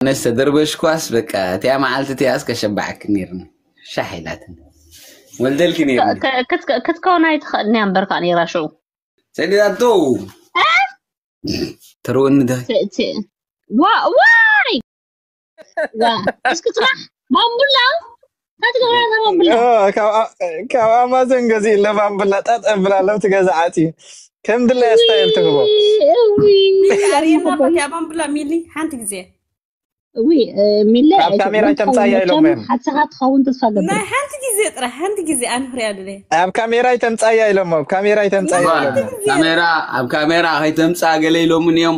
ኣነስ ተደርበሽኳስ በቃ እቲኣ መዓልቲ እቲኣስ ከሸባዕኪ ነይርኒ ሻሕ ኢላትኒ ወልደልኪ ነይርኒ ክትከውን ኣይትኽእልን እያ እምበር ከዓ ነይራ ሽዑ ሰዲዳቶ ተርወኒ ደ ዋይ እስክትራሕ ማሙላ ካብ ኣማዞን ገዚኡ ለባም ብላ ጣጥ ኣብላ ለብቲ ገዛ ዓፅዩ ከም ድላይ ስታይል ትህቦ ኣርየና ኮንቲያ ባምብላ ሚሊ ሓንቲ ግዜ ሚለ ኣብ ካሜራ ኣይተምፃያ ኢሎም እዮም ሓሰኻ ትኸውን ተስፋ ገብር ናይ ሓንቲ ግዜ ጥራሕ ሓንቲ ግዜ ኣነ ክሪኣ ድለ ኣብ ካሜራ ኣይተምፃያ ኢሎም ኣብ ካሜራ ኣይተምፃያ ኢሎም እዮም ካሜራ ኣብ ካሜራ ከይተምፃ ገለ ኢሎምን እዮም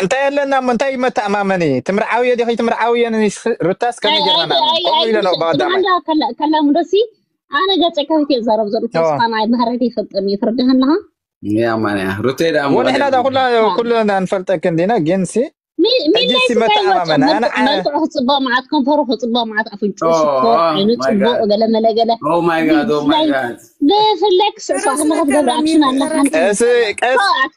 እንታይ ኣለና እሞ እንታይ መተኣማመኒ ትምርዓዊ እየ ዲኺ ትምርዓዊ እየ ሩታስ ከመይ ጌርና ንኣምን ከምኡ ኢለ ነው ብቀዳማይ ከላም ደሲ ኣነ ገፀ ከፊት እየ ዛረብ ዘሎ ተስፋ ናይ ባህረት ይፈልጠም እዩ ፍርድህ ኣለኻ ወንሕና ዳ ኩላ ኩልና ንፈልጠክን ዲና ግን ሲ ሕጂሲ መተኣማመኒ መልክዑ ክፅበቕ መዓት ከንፈሩ ክፅበቕ መዓት ኣፍንጩ ሽኮር ዓይኑ ፅቡቕ ገለ መለገለ ብፍላይ ክስዕሳ ከለካ ትገብር ኣክሽን ኣለካ ቀስ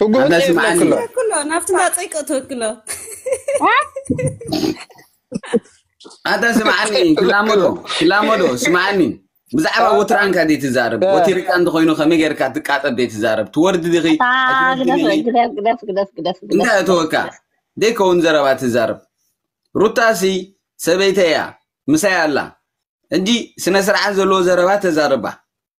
ትጉህ ኣነ ጥይት ስምዓኒ ለክሎ ተክሎ ናብቲ ማፀይ ከእ ተክሎ ኣታ ስምዓኒ ክላመዶ ለክሎ ክላመዶ ስምዓኒ ብዛዕባ ወትራን እካ ደይ ትዛረብ ወቲርካ እንተኮይኑ ከመይ ጌርካ ትቃጠብ ደይ ትዛረብ ትወርዲ ዲኺ ኣታ ኣይትወርድን ግደፍ ኢኺ ግደፍ ግደፍ ግደፍ ግደፍ ግደፍ እንታይ ግደፍ እተወካ ግደፍ ደይከውን ዘረባ ትዛረብ ሩታሲ ሰበይተይ እያ ምሳይ ኣላ ሕጂ ስነ ስርዓት ዘለዎ ዘረባ ተዛርባ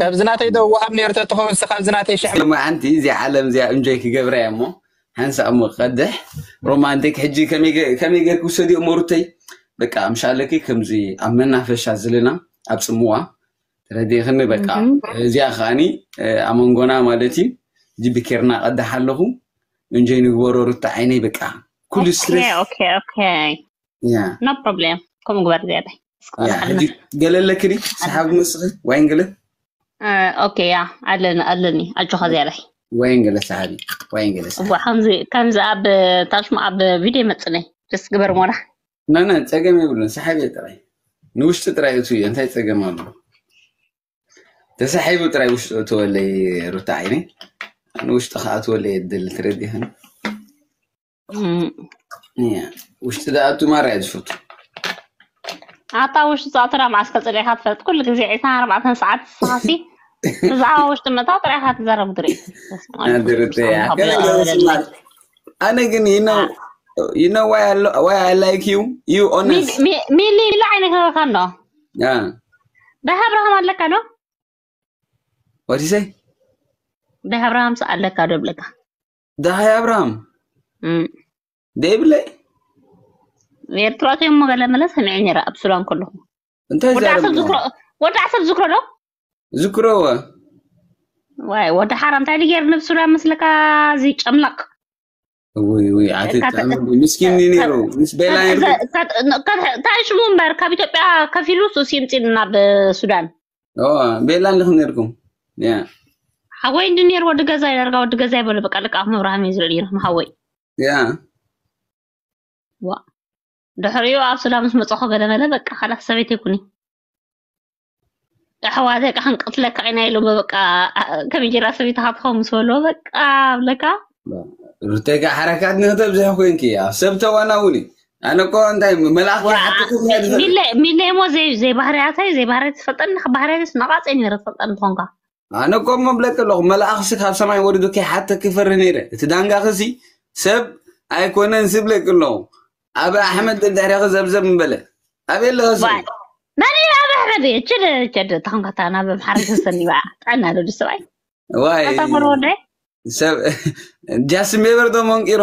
ካብዚ ናተይ ዶ ወሃብ ነይሩ ተትኸውን ካብዚ ናተይ ሽሕ ሎማዓንቲ እዚኣ ዓለም እዚኣ እንጆይ ክገብራ እያ እሞ ሓንሳእ እሞ ክቀድሕ ሮማንቲክ ሕጂ ከመይ ጌርክ ውሰድዮ እሞ ሩተይ በቃ ምሻለኪ ከምዚ ኣብ መናፈሻ ዝልና ኣብ ፅምዋ ተረዲእኽኒ በቃ እዚኣ ከዓኒ ኣብ መንጎና ማለት እዩ ጅቢ ኬርና ቀዳሕ ኣለኹ እንጆይ ንግበሮ ሩታ ዓይነይ በቃ ኩሉ ስትሬስ ኖ ፕሮብሌም ከምኡ ግበር ዝያዳ ገለለ ክዲ ሰሓቢ መስኺ ወይን ገለ ኦኬ ያ ኣለኒ ኣለኒ ኣጆኻ ዝያዳይ ወይን ገለ ሰሓቢ ወይን ገለ ከምዚ ኣብ ታሽሙ ኣብ ቪድዮ መፅለይ ደስ ግበር ሞራ ናና ፀገም የብሉን ሰሓቢ ጥራይ ንውሽጢ ጥራይ እቱ እዩ እንታይ ፀገም ኣሎ ተሳሒቡ ጥራይ ውሽጢ እትወለይ ሩታ ዓይነይ ንውሽጢ ከዓ እትወለይ የደሊ ትረዲኸን ውሽጢ ዝኣቱ ማራ እየ ዝፈቱ ኣታ ውሽጢ ዝኣቱ ናብ ማዓስከር ፅሊእካ ትፈልጥ ኩሉ ግዜ ዒስራ ኣርባዕተን ሰዓት ሰዓቲ ብዛዕባ ውሽጢ ምእታው ጥራይ ኢካ ትዘረብ ድሪ ኣነ ግን ይነ you know why I, lo- why I like you? You honest. ሚሊ ኢሉ ዓይነ ክህበካ ኣሎ Yeah. ዳህ ኣብርሃም ኣለካ ዶ What do you say? ዳህ ኣብርሃምስ ኣለካ ዶ ይብለካ ደሃይ ኣብርሃም እም፣ ደይብለይ ኤርትራ ከ እሞ ገለ መለ ሰሚዐ ነይረ ኣብ ሱዳን ከለኹ እንታይ ወዲ ዓሰብ ዛረብ ዝክሮ ወዲ ዓሰብ ዝክሮ ዶ ዝክረወ ዋይ ወዲ ሓራ እንታይ ድጌር ንብ ሱዳን መስለካ እዚ ጨምላቕ ውይ ውይ ኣቲ ካብ- ጥዕሚ ምስኪን እዩ ነይሩ ምስ ቤላ ነይሩ እንታይ ሽሙ እምበር ካብ ኢትዮጵያ ከፊሉ ሱሲምፂን ናብ ሱዳን ቤላ ኣለኹም ነርኩም ሓወይ እንዲ ነር ወዲ ገዛ ይደርጋ ወዲ ገዛ ይበሉ በቃ ልቃ ምብራሃም እዩ ዝብል ይርኩም ሓወይ ዋ ድሕሪኡ ኣብ ሱዳ ምስ መፀኹ ገለመለ በቃ ካላት ሰበይት ይኩኒ ኣሕዋተ ቃ ክንቅትለካ ኢና ኢሉ በቃ ከመይ ጌራ ሰበይት ሃትኸው ምስ በሎ በቃ ብለካ ርተጋ ሓረካት ንክተብዝሒ ኮንኪ እያ ሰብ ተዋናውኒ ኣነ እኮ እንታይ መልኣኽ ከይሓትኩ እንታይ ድፈ ሚለ ሚለ እሞ ዘይ ዘይ ባህርያታይ ዘይ ባህርያ ትፈልጠኒ ካብ ባህርያትስ ነቓፀ ነይረ ትፈልጠኒ ትኾንካ ኣነ እኮ እሞ ብለኪ ኣለኹ መልኣኽሲ ካብ ሰማይ ወሪዱ ከይሓተክ ይፈሪ ነይረ እቲ ዳንጋኽሲ ሰብ ኣይኮነን ስብለኪ ኣለኹ ኣብ ኣሕመድ ደድሕሪኺ ዘብዘብ ምበለ ኣበይ ኣለኸ ስሙ ባል መን እዩ ኣብ ኣሕመድ እዩ ችድ ችድ ተኾንካ እታ ናብ ኣምሓራ ተሰኒ በዓ ጥዕና ዶ ድስባይ ዋይ ኣታ ፈር ወዳይ ሰብ ጃስን ቤበር ዶ መንቂሮ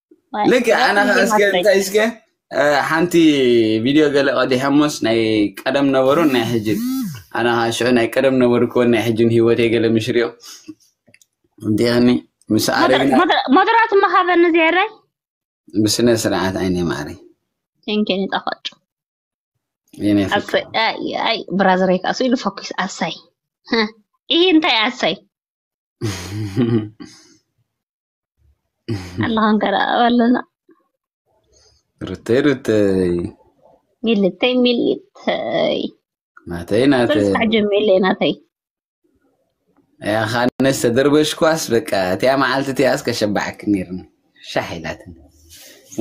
ልክ ኣነ ከዓ እስከ እንታይ እስከ ሓንቲ ቪድዮ ገለ ቀዲሐሞስ ናይ ቀደም ነበሩን ናይ ሕጅን ኣነ ከዓ ሽዑ ናይ ቀደም ነበሩ ክወን ናይ ሕጅን ህይወተይ ገለ ምሽርዮ እንዲኒ ምስ ኣረግና ሞደራቱ መሃበኒ ዜረይ ብስነ ስርዓት ዓይነ ማዕሪ ቴንኬን ይጣፋጩ ኣይ ብራዘረይ ከዓ ኢሉ ፈኪስ ኣሳይ ይህ እንታይ ኣሳይ ኣለኻ እንከረኣብ ኣለና ሩተይ ሩተይ ሚልተይ ሚልተይ ናተይ ናተይ ብልፅዕ ጀሚለ ናተይ ያኻነስ ተደርበሽኳስ በቃ እቲያ መዓልቲ እቲኣስ ከሸባዕክ ነርኒ ሻሕ ኢላትኒ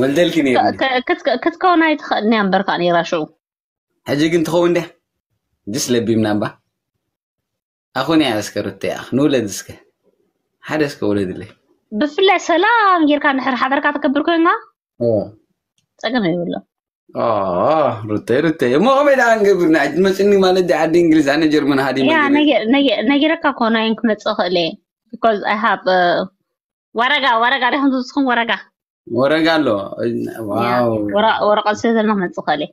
ወልደልኪ ነርኒ ክትከውን ኣይትኽእልን እያ እምበርካ ነራ ሽዑ ሕጂ ግን ትኸውን ድያ ጅስ ለቢምና እባ ኣኹን እያ እስከ ሩተይ ኣኽ ንውለድ እስከ ሓደ እስከ ውለድለይ ብፍላይ ሰላም ጌርካ ንሕር ሓበርካ ተከብር ኮይንካ ፀገም የብሎ ሩተይ ሩተይ እሞ ከመይ ደኣ ንገብርና መፅኒ ማለት ዲ ዓዲ እንግሊዝ ኣነ ጀርመን ሃዲ ነጊረካ እኮ ናይን ክመፅእ ክእል እየ ቢካዝ ኣይ ሃብ ወረጋ ወረጋ ዲኹም ዝብፅኹም ወረጋ ወረጋ ኣሎ ወረቀት ስለ ዘለና ክመፅእ ክእል እየ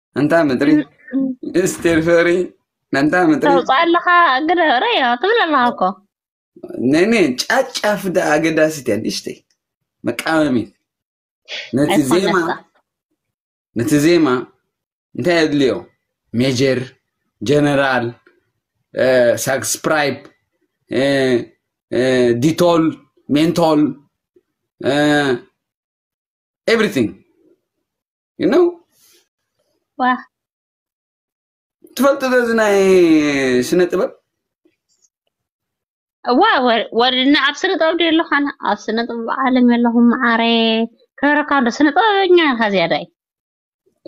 እንታ ምድሪ ምስጢር ፍቅሪ መንታ ምድሪ ተውፅኦ ኣለኻ ግደ ረዮ ትብል ኣለኻ እኮ ነነ ጫጫፍ ዳ ኣገዳሲት እያ ንእሽተይ መቃወሚት ነቲ ዜማ ኣይኮነካ ነቲ ዜማ እንታይ የድልዮ ሜጀር ጀነራል እ፣ ሳክስፕራይብ እ፣ እ፣ ዲቶል ሜንቶል ኤቭሪቲንግ you know ዋ ትፈልጡ ዶ እዚ ናይ ስነ ጥበብ እዋ ወ- ወድና ኣብ ስነ ጥበብ ድዩ ኣለኹ ኣነ ኣብ ስነ ጥበብ ዓለም ኣለኹ መዓረ ክብረካ ዶ ስነ ጥበበኛ ኢኻ ዝያዳይ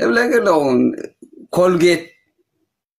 እብለኪ ኣለኹ ኮልጌት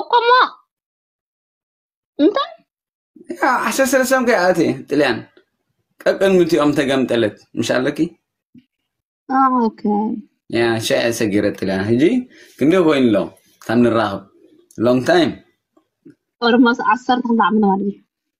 እኮሞ እንታይ ያው ዓሰርተ ሰለስተ ኮይ ኣቲ ጥልያን ቀቅን ምትኦም ተገምጠለት ምሻለኪ ኦኬ ያ ሻዕ ሰጊረ ጥልያን ሕጂ ክንደይ ኮይኑ ኣሎ ካብ ንራኸብ ሎንግ ታይም ኦልሞስ ዓሰርተ ክልተ ዓመት ማለት እዩ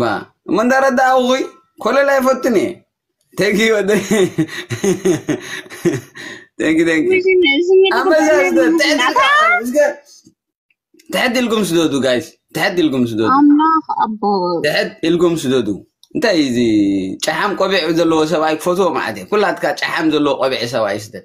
ባ እሞ እንዳረዳእኹይ ኮለል ኣይፈቱን እየ ተጊ ወደ ተጊ ተጊ ኣመዛዝተ ትሕት ኢልኩም ስደዱ ጋይስ ትሕት ኢልኩም ስደዱ ኣምላኽ ኣቦ ትሕት ኢልኩም ስደዱ እንታይ እዚ ጨሓም ቆቢዕ ዘለዎ ሰብኣይ ክፈትዎ ማለት እየ ኩላትካ ጨሓም ዘለዎ ቆቢዕ ሰብኣይ ስደድ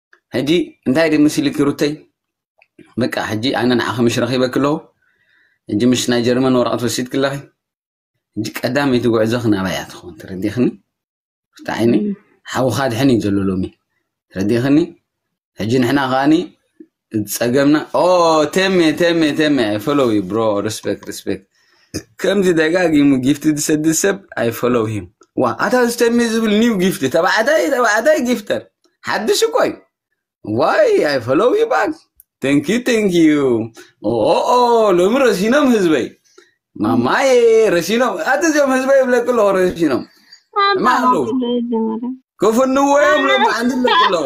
ሕጂ እንታይ ድ ምስልኪ ሩተይ በቃ ሕጂ ኣነ ንዓኺ ምሽ ረኺበኪ ኣለኹ ሕጂ ምስ ናይ ጀርመን ወረቐት ወሲድኪ ኣለኺ ሕጂ ቀዳመይቲ ጉዕዞኺ ናባይ እያ ትኸውን ተረዲኽኒ ሩታ ዓይኒ ሓውኻ ድሕን እዩ ዘሎ ሎሚ ተረዲኽኒ ሕጂ ንሕና ከዓኒ ጸገምና ኦ ተሜ ተሜ ተሜ ፎሎው ዩ ብሮ ሪስፔክት ሪስፔክት ከምዚ ደጋጊሙ ጊፍቲ ዝሰድድ ሰብ ኣይ ፎሎው ሂም ዋ ኣታ ዝተሚ ዝብል ኒው ጊፍቲ ተባዕታይ ተባዕታይ ጊፍተር ሓድሽ እኮ እዩ ዋይ ኣይ ፎሎው ዩ ባክ ተንኪ ተንኪ ኦኦ ሎሚ ረሲኖም ህዝበይ ማማዬ ረሲኖም ኣቲ እዚኦም ህዝበይ ይብለክ ኣለኹ ረሲኖም ማሉ ክፍንዎ እዮም ሎሚ ዓንዲ ኣለኩ ኣለኹ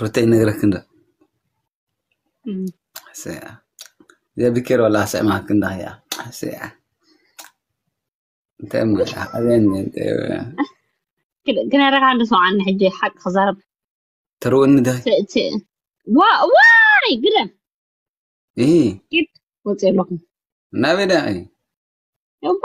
ሩተይ ነግረክ እንዶ ሰያ ዘብኪር ወላ ሰማክ እንዳ ያ ሰያ እንታይ እሞ ያ ኣበን ክነረካ እንዶ ሰውዓኒ ሕጂ ሓቂ ክዛረብ ተርውኒ ደ ት- ት- ዋ- ዋይ ግደም ኢ ወፂ ኣለኹ ናበይ ዳ እባ